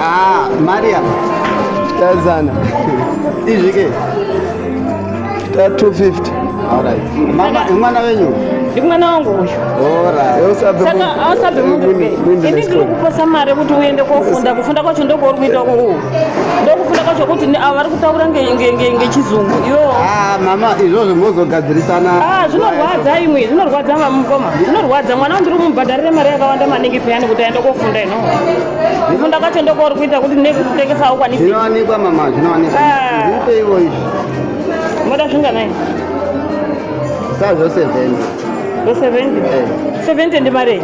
Ah, Mariam. Tazana. Izvi ke. 250. All right. Mama, mwana wenyu? Ndi mwana wangu uyu. All right. Yo sabe. Saka asabe mundu ke. Ini ndiri kuposa mare kuti uende kofunda. Kufunda kwacho ndoko uri kuita uku. Ndokufunda kwacho kuti ni avari kutaura nge nge nge nge chizungu. Yo. Ah, mama, izvozvo mozogadzirisana. Ah, zvinorwadza imwe. Zvinorwadza mama mukoma. Zvinorwadza mwana ndiri kumubhadharira mare yakawanda maningi peyani kuti aende kofunda. kufunda kwacho ndokwauri kuita kuti nekutengesa aukwanisi zvinowanikwa mama zvinowanikwa ah. zvipe ivo izvi moda zvinganai sa zvo seventy zvo seventy eh. seventy ndi marei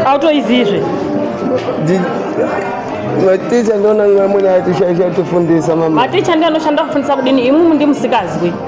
autoizizve maticha ndona amweni atishaisha tifundisa mama maticha ndi anoshanda kufundisa kudini imumu ndi musikazwi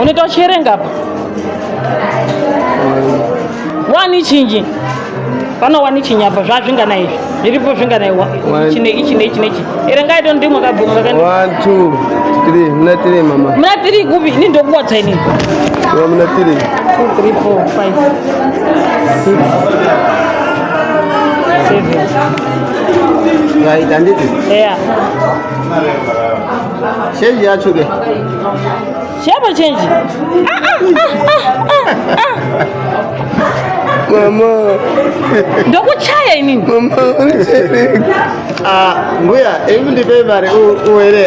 unoita uchiverenga apa wani chinji pano wani chinji apa zvazvingana izvi zviripo zvingana chine ichi neichi neichi erengai to ndimwe kabvumakamunatiri mama munatiri kupi ini ndokuwatsa ini munatiri Right, and it is. Yeah. Change yacho ke. Shape change. Mama. Ndokuchaya ini. Mama unochereka. Ah, mbuya, hebu ndipe mari uwere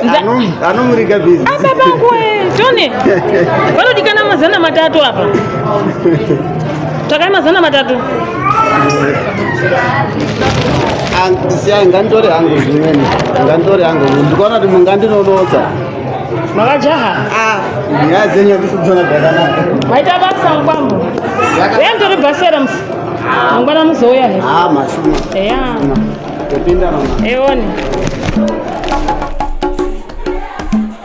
anomurika busy. Ah, baba kwe, Tony. Vanodikana mazana matatu apa. Takai mazana matatu. Siyai nganditore hangu zvimweni. Nganditore hangu. Ndikaona kuti mungandinonotsa. Makajaha. Ah, nyaya dzenyu kusudzana zvakanaka. Maita basa mukwambo. Yeye ndori basera musi. Mangwana muzouya here? Ah, mashuma. Eya. Topinda mama. Eone.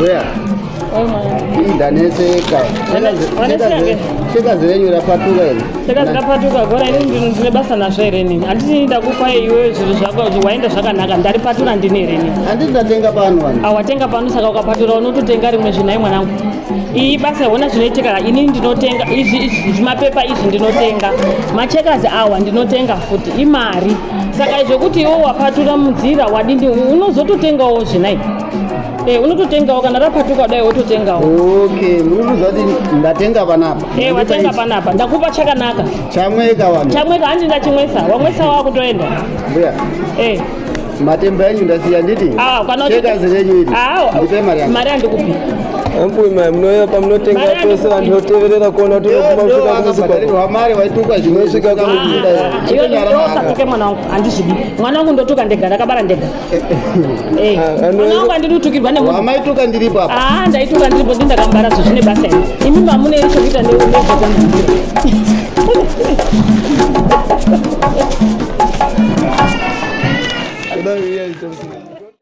Where? ndaneseka shekazi renyu rapatuka here shekazi rapatuka gora ini ndino ndine basa nazvo here nini handiti ndakupa iwe zviro zvako waenda zvakanaka ndaripatura ndini here nini handiti ndatenga pano wani awatenga pano saka ukapatura unototenga rimwe zvinai mwanangu iyi basa hona zvinoitika ini ndinotenga izvi zvimapepa izvi ndinotenga machekazi awa ndinotenga futi imari saka izvo kuti iwo wapatura mudzira wadini unozototengawo zvinai Eh, unototengawo kana rapatuka kudai wototengawo okay munotoziva kuti ndatenga panapa Eh, watenga panapa ndakupa chakanaka chamweka vanhu chamweka handi ndachimwesa wamwesa wakutoenda mbuya Eh, matemba enyu ndasiya nditi Ah, kana uchi- shekazi renyu iri ah, ndipe mari yangu mari handikupi Ambuye mai munouya pamunotenga pese vanhu voteverera kuona kuti unoguma kusvika kumuzikwako mari waituka zvinosvika kumusikasaike mwana wangu handizvidi mwana wangu ndotuka ndega ndakabara ndega eh, ah, mwana wangu andidi kutukirwa nemuamaituka ndiripo apa aa ah, ndaituka ndiripo ndi ndakambara zvo zvine basa iri imi mamune iri chokuita neezvakana Thank you.